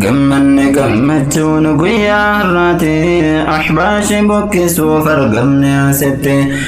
gammanne gammachuun guyyaa har'aati ahbaashi buqqisuuf argamne asitti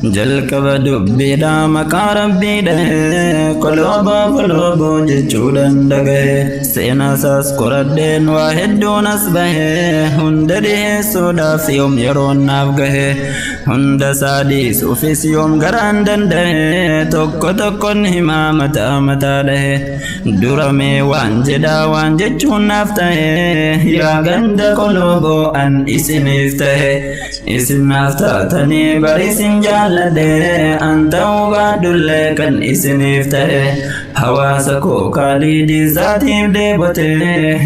jalqaba dubbiidha maqaa rabbii dhahee kolooba koloobo jechuudhaan dhagahe seenaasaas qoradheen waa hedduun as bahe hunda dhiheessuudhaaf yoom yeroon naaf gahe hunda isaa dhiisuufis yoom garaan danda'e tokko tokkon himaa mataa mataa dhahe duramee waan jedhaa waan jechuun naaf tahe yaa ganda koloobo an isiniif tahe Isin naaf taatanii bari isin jaalladhe an ta'uu baadhullee kan isiniif ta'e hawaasa koo kaalii diizaatiif deebote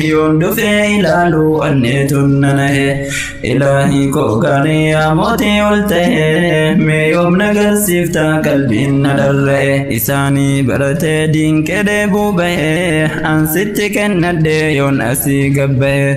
yoon dhufee ilaalu anneetun nanahe ilaahii koo gaarii yaa mootii ol ta'e mee yoom nagarsiifta qalbiin na dharra'e isaanii baratee diinqee deebuu ba'e an sitti kennadhe yoon asii gabba'e.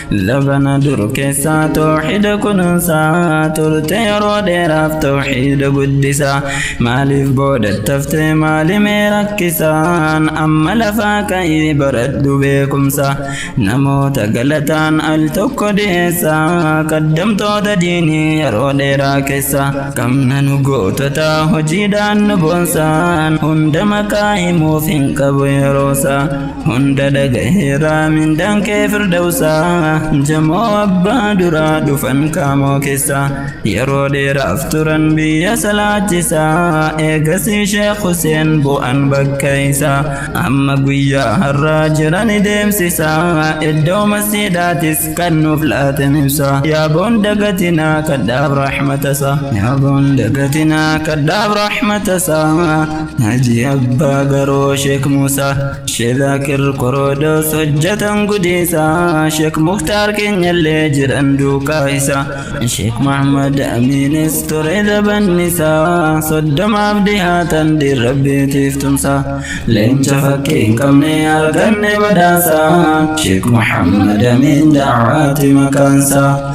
Labana dur keessaa tooxida kunuunsaa turte yeroo dheeraaf tooxida guddisaa maaliif booda taftee maalimee rakkisaan amma lafaa ka'ii baradhu beekumsa namoota galataan al tokko dhiyeessaa kaddamtoota diinii yeroo dheeraa keessa qabna nu gootota hojiidhaan nu boonsaan hunda maqaa himuuf hin qabu yeroosaa Hunda dhagaheera mindaan kee firdawsa jamoo abbaa duraa dhufan qaamoo keessa yeroo dheeraaf turan biyya salaachisa eegasii sheekh Huseen bu'an bakka isa amma guyyaa har'aa jiran deemsisa iddoo masjiidaatis kan nuuf laatem ibsa yaaboon dagatinaa kadhaaf rahmatasa yaaboon dagatinaa kadhaaf rahmatasa Haji Abbaa Garoo Sheek Muusaa Sheek Zaakir Koroodoos hojjetan gudiisaa Sheek Muktaar keenyallee jiran duukaa isaa Sheek Mahmad Amiinis ture dabannisaa Soddomaaf dhihaatan diin rabbiitiif tumsaa Leenca fakkii hin qabne arganne badhaasaa Sheek Muhammad Amiin da'aati maqaansaa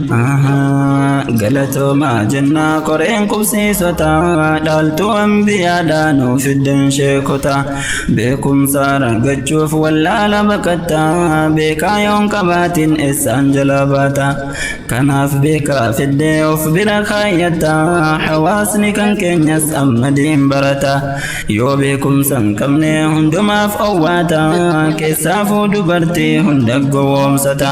Ahaa, galatoomaa jennaa qoreen qubsiisota dhaaltuu ambiyaadhaa nuu fiddan sheekota beekumsa argachuuf wallaala baqatta beekaa yoon qabaatiin essaan jalaa baata kanaaf beekaa fiddee of bira kaayyatta hawaasni kan keenyas amma diin barata yoo beekumsa hin qabne hundumaaf owwaata keessaafuu dubartii hunda gowwoomsata